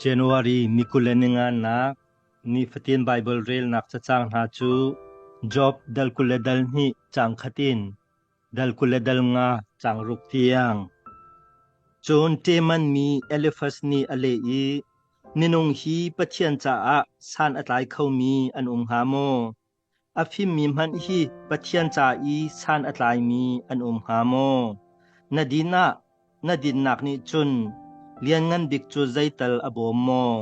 January ni kul le ninganak nifatin Baibal relnak cacang hna cu Job dal kul le dal hnih cang khat in dal kul le dal nga cang ruk tiang. Cun Teman mi Elifas nih a leh i, Minung hi Pathian caah san a tlai khomi an um hnga maw? A fimmi hmanh hi Pathian ca i san a tlaimi an um hnga maw? Na din ah na dinnak nih cun Lianngan Bik cu zeital a bawm maw?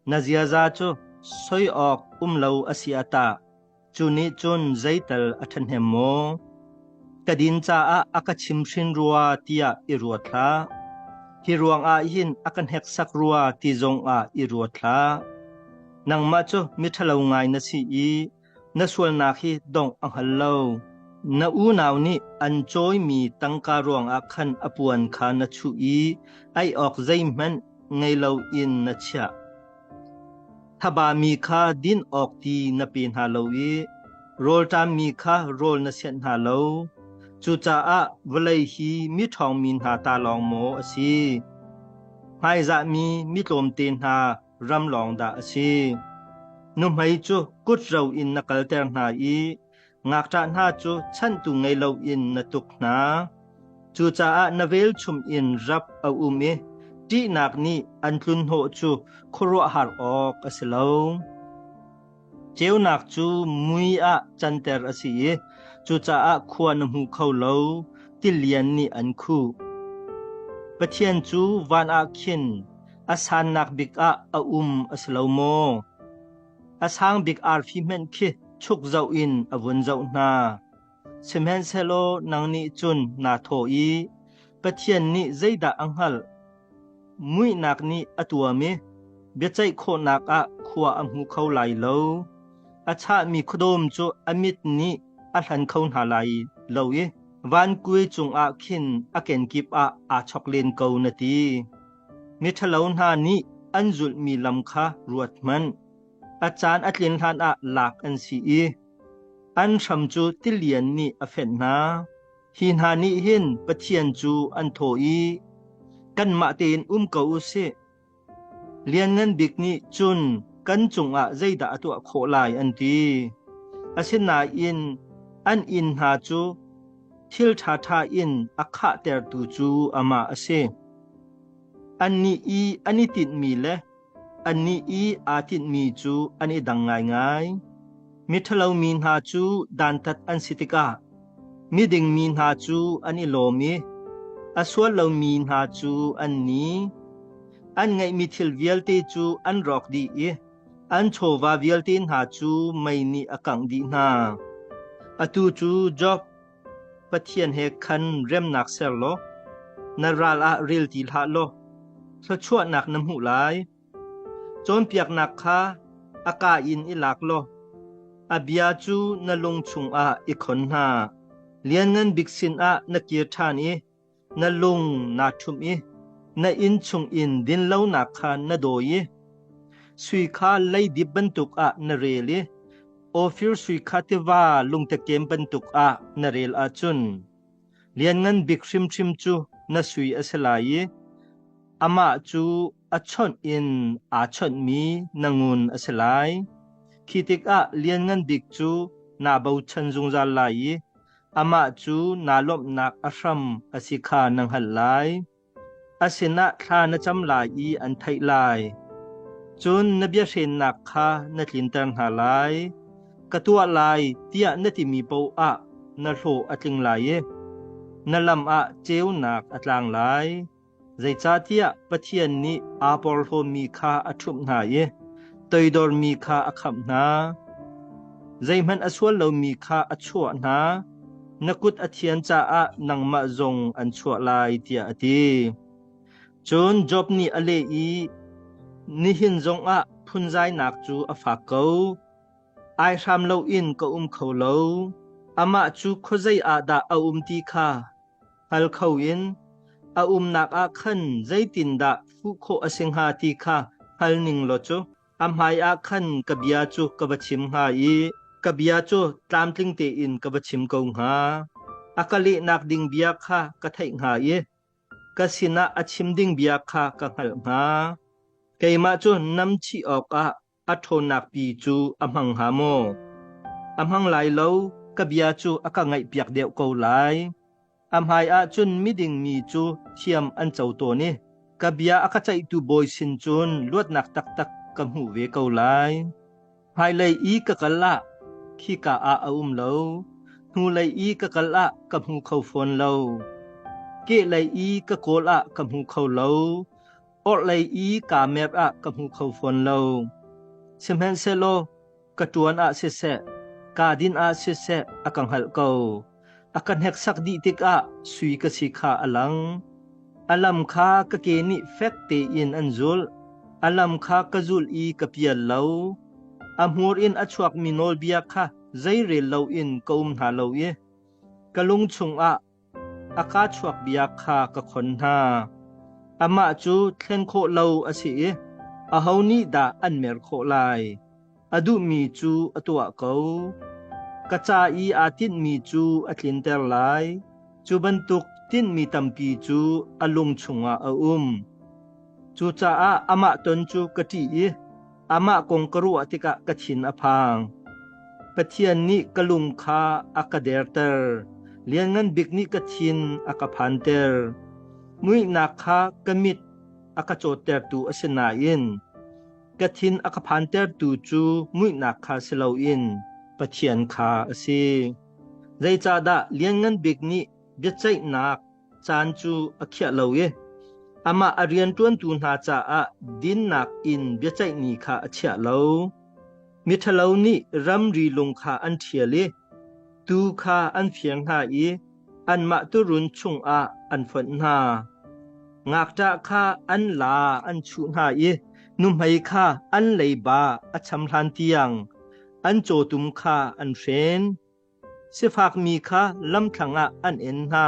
Na ziaza cu soi awk um lo a si ah tah cu nih cun zeital a ṭhahnem maw? ka din caah a ka chimhrin rua tiah i ruat hlah. Hi ruangah hin a ka hneksak rua ti zongah i ruat hlah. Nangmah cu miṭhalo ngai na si i na sualnak hi dongh a hngal lo. Na unau nih an cawimi tangka ruangah khan a puan kha na chuh i ei awk zeihmanh ngei loin na chiah. Thaba mi kha din awk ti na pe hna lo i rawlṭam mi kha rawl na senh hna lo. Cucaah vawlei hi mi ṭhawngmi hna ta lawng maw a si? Hmaizahmi mi tlawmte hna ram lawng dah a si? Nuhmei cu kut ro in na kalter hna i Ngakṭah hna cu chantu ngei loin na tuk hna. Cucaah na velchum in rap a um i ṭihnak nih an tlunhnawh cu khuaruahhar awk a si lo. Ceunak cu mui ah canter a si i cucaah khua na hmu kho lo, tilian nih an khuh. Pathian cu van ah khin a sannak bik ah a um a si lo maw? A sang bik arfi hmanh khi chuk zoh in a vun zoh hna. Sihmanhsehlaw nang nih cun naa thaw i Pathian nih zeidah a hngalh? Muihnak nih a tuam i biaceih khawhnak ah khua a hmu kho lai lo. A chahmi khuadawm cu a mit nih a hlan kho hna lai lo i vankuai cungah khin a kenkip ah aa chok len ko, na ti. Miṭhalo hna nih an zulhmi lam kha ruathmanh. A caan a tlin hlanah lak an si i an hram cu tilian nih a fenh hna. Hi hna nih hin Pathian cu an thaw i, “Kanmah tein um ko u sih! Lianngan Bik nih cun kan cungah zeidah a tuah khawh lai?” an ti. Asinain an inn hna cu thil ṭhaṭha in a khahtertu cu amah a si. Annih i an i tinhmi le annih i aa tinhmi cu an i dang ngaingai. Miṭhalo mi hna cu dantat an si tikah miding mi hna cu an i lawm i a sual lomi hna cu an ni. An ngeihmi thil vialte cu an rawk dih i An chawva vialte hna cu mei nih a kangh dih hna. Atu cu Job, Pathian he khan remnak ser law na ral ah rel ti hlah law thluachuahnak na hmuh lai. Cawnpiaknak kha a ka in i lak law a bia cu na lung chungah i khon hna. Lianngan Bik sinah na kir ṭhan i Na lung naa ṭhumh i na inn chungin dinlonak kha na dawi i sui kha leidip bantuk ah na rel i Ofir sui kha tiva lungtekem bantuk ah na rel ahcun Lianngan Bik hrimhrim cu na sui a si lai i amah cu a chawnh in aa chawnhmi na ngun a si lai. Khi tikah Lianngan Bik cu naa bochan zungzal lai i amah cu naa lawmhnak a hram a si kha na hngalh lai. A sinah thla na cam lai i an theih lai. Cun na biahrennak kha na tlinter hna lai. Ka tuah lai tiah na timi paoh ah na hlawh a tling lai i na lam ah ceunak a tlang lai. Zeicahtiah Pathian nih aa porhlawmi kha a ṭhumh hna i toidormi kha a khamh hna. Zeihmanh a sual lomi kha a chuah hna, na kut a thian caah nangmah zong an chuah lai, tiah a ti. Cun Job nih a leh i, Nihin zongah phunzainak cu a fak ko. Ai hram loin ka um kho lo. Amah cu khuazei ah dah a um ti kha hngal kho in a umnak ah khan zeitindah fuh khawh a si hnga ti kha hngal ning law cu a hmaiah khan ka bia cu ka va chim hnga i ka bia cu tlamtling tein ka va chim ko hnga. A ka lehnak ding bia kha ka theih hnga i ka sinah a chim ding bia kha ka hngalh hnga. Keimah cu nam chih awkah a ṭhawnnak pi cu a hmang hnga maw? A hmang lai lo, ka bia cu a ka ngaihpiak deuh ko lai. A hmaiah cun miding mi cu thiam an co tawn i ka bia a ka ceihtu bawi sin cun luatnak taktak ka hmuh ve ko lai. Hmailei i ka kal ah khika ah a um lo, hnulei i ka kal ah ka hmu kho fawn lo, kehlei i ka kawl ah ka hmu kho lo, Orhlei i kaa mep ah ka hmu kho fawn lo. Sihmanhsehlaw ka ṭuan ah siseh, kaa din ah siseh a ka hngalh ko. A ka hneksak dih tikah sui ka si kha a lang. A lam kha ka ke nih fek tein an zulh. A lam kha ka zulh i ka pial lo. A hmur in a chuakmi nawlbia kha zeirel loin ka um hna lo i ka lung chungah A ka chuak bia kha ka khon hna. Amah cu thlen khawh lo a si i aho nih dah an mer khawh lai? A duhmi cu a tuah ko. Ka ca i aa tinhmi cu a tlinter lai; cu bantuk tinhmi tampi cu a lung chungah a um. Cucaah amah ton cu ka ṭih i, Amah kong ka ruah tikah ka thin a phang. Pathian nih ka lung kha a ka derter. Lianngan bik nih ka thin a ka phanter. Muihnak kha ka mit a ka cawttertu a si nain ka thin a ka phantertu cu muihnak kha si loin Pathian kha a si. Zeicahdah lianngan bik nih biaceihnak caan cu a khiah lo i amah a rianṭuantu hna caah dinnak in biaceihni kha a chiah lo. Miṭhalo nih ramri lung kha an ṭhial i tuu kha an fiang hna i anmah turun chungah an fonh hna. Ngakṭah kha an la an chuh hna i nuhmei kha an leiba a cham hlan tiang an cawtum kha an hren. Sifakmi kha lamthlang ah an en hna,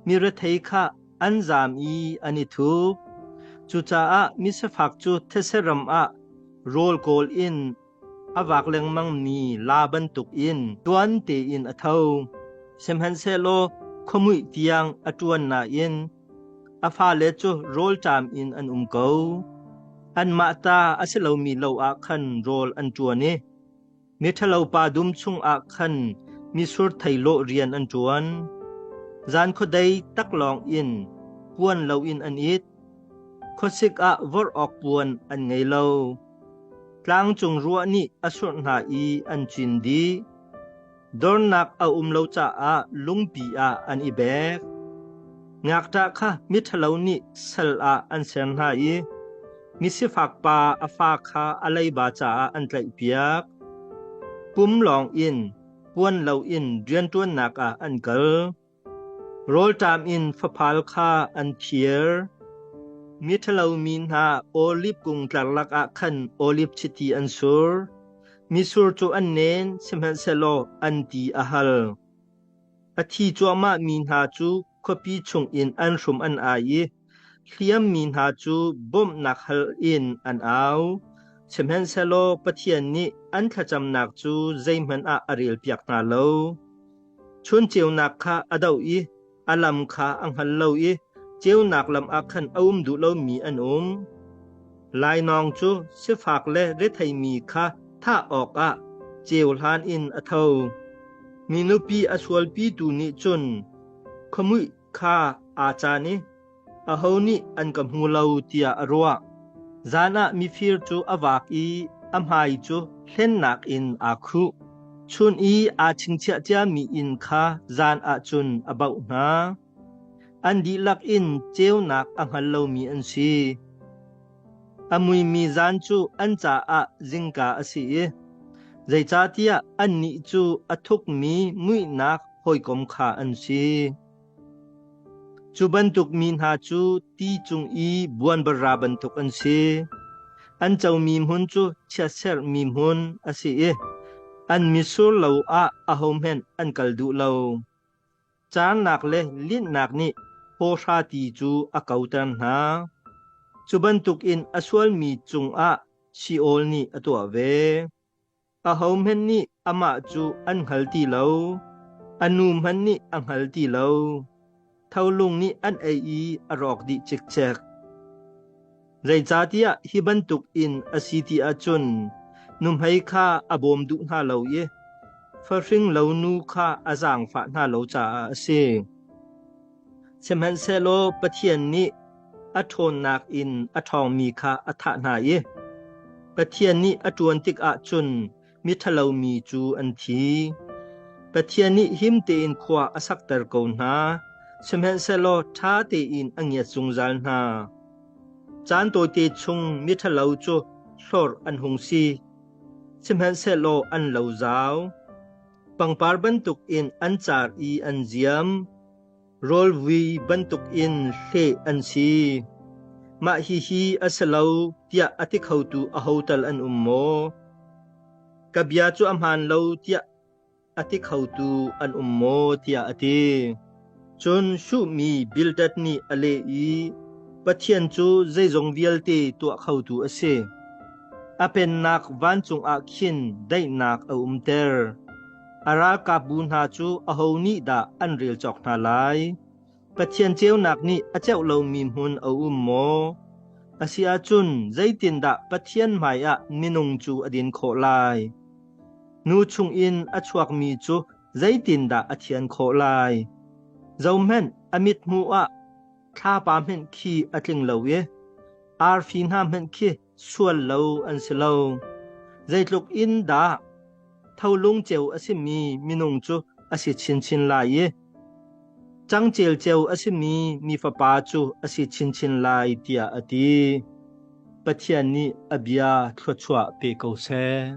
mirethei kha an zam i an i thup. Cucaah misifak cu theseram ah rawl kawl in a vak lengmangmi la bantukin tuan tein a tho. Sihmanhsehlaw khuamuih tiang a ṭuan nain a fale cu rawlṭam in an um ko. Anmah ta a si lomi lo ah khan rawl an ṭuan i Miṭhalopa dum chungah khan misur theilawh rian an ṭuan. Zan khuadei tak lawng in puan loin an it. Khuasik ah vorh awk puan an ngei lo. Tlangcung ruah nih a surh hna i an cin dih. Dornak a um lo caah lungpi ah an i bek. Ngakṭah kha miṭhalo nih sal ah an ser hna i Misifakpa a fa kha a leiba caah an tlaihpiak. Pum lawng in puan loin rianṭuannak ah an kal. Rawlṭam in faphal kha an thier. Miṭhalo mi hna olib kung tlar lakah khan olib chiti an sur. Misur cu an nen sihmanhsehlaw an ti a hal. A thi cuahmah mi hna cu khuapi chungin an hrum an ai i hliammi hna cu bawmhnak hal in an au. Sihmanhsehlaw Pathian nih an thlacamnak cu zeihmanh ah a relpiak hna lo. Chun ceunak kha a doh i a lam kha a hngal lo i ceunak lam ah khan a um duh lomi an um. Lainawng cu sifak le retheimi kha thah awkah ceuhlan in a tho. Mi nupi a sualpitu nih cun khuamuih kha aa caan i aho nih an ka hmu lo tiah a ruah. Zan ah mifir cu a vaak i a hmai cu hlennak in aa khuh. Chun i aa chingchiah ciami inn kha zan ah cun a baoh hna. An dihlak in ceunak a hngal lomi an si. A muimi zan cu an caah zingka a si i zeicahtiah annih cu a thukmi muihnak hawikom kha an si. Cu bantuk mi hna cu ti cung i buanbara bantuk an si. An comi hmun cu chiatserhmi hmun a si i an mitsur lo ah ahohmanh an kal duh lo. Caannak le linhnak nih hawhra ti cu a koter hna. Cu bantukin a sualmi cungah Sheol nih a tuah ve. Ahohmanh nih amah cu an hngal ti lo, a nu hmanh nih a hngal ti lo. Tholung nih an ei i a rawk dih cikcek. Zeicahtiah hi bantuk in a si ti ahcun nuhmei kha a bawm duh hna lo i farhring lo nu kha a zaangfah hna lo caah a si. Sihmanhsehlaw Pathian nih a ṭhawnnak in a ṭhawngmi kha a thah hna i Pathian nih a ṭuan tikah cun Miṭhalomi cu an thi. Pathian nih him tein khua a sakter ko hna, sihmanhsehlaw ṭha tein a ngiat zungzal hna. Caan tawite chung miṭhalo cu hlawr an hung si, sihmanhsehlaw an lo zau. Pangpar bantukin an car i an ziam. Rawlvui bantukin hleh an si. Mah hihi a si lo tiah a ti khotu aho tal an um maw? Ka bia cu a hmaan lo tiah a ti khotu an um maw tiah a ti. Cun Shuhmi Bildad nih a leh i, Pathian cu zeizong vialte tuah khotu a si. A pennak vancung ah khin daihnak a umter. A ralkapbu hna cu aho nih dah an rel cawk hna lai? Pathian ceunak nih a ceuh lomi hmun a um maw? A si ahcun zeitindah Pathian hmaiah minung cu a din khawh lai? Nu chungin a chuakmi cu zeitindah a thian khawh lai? Zohhmanh, a mithmuh ah thlapa hmanh khi a tling lo i arfi hna hmanh khi sual lo an si lo. Zeitluk in dah tholung ceu a simi minung cu a si chinchin lai i cangcel ceu a simi mi fapa cu a si chinchin lai tiah a ti. Pathian nih a bia thluachuah pe ko seh.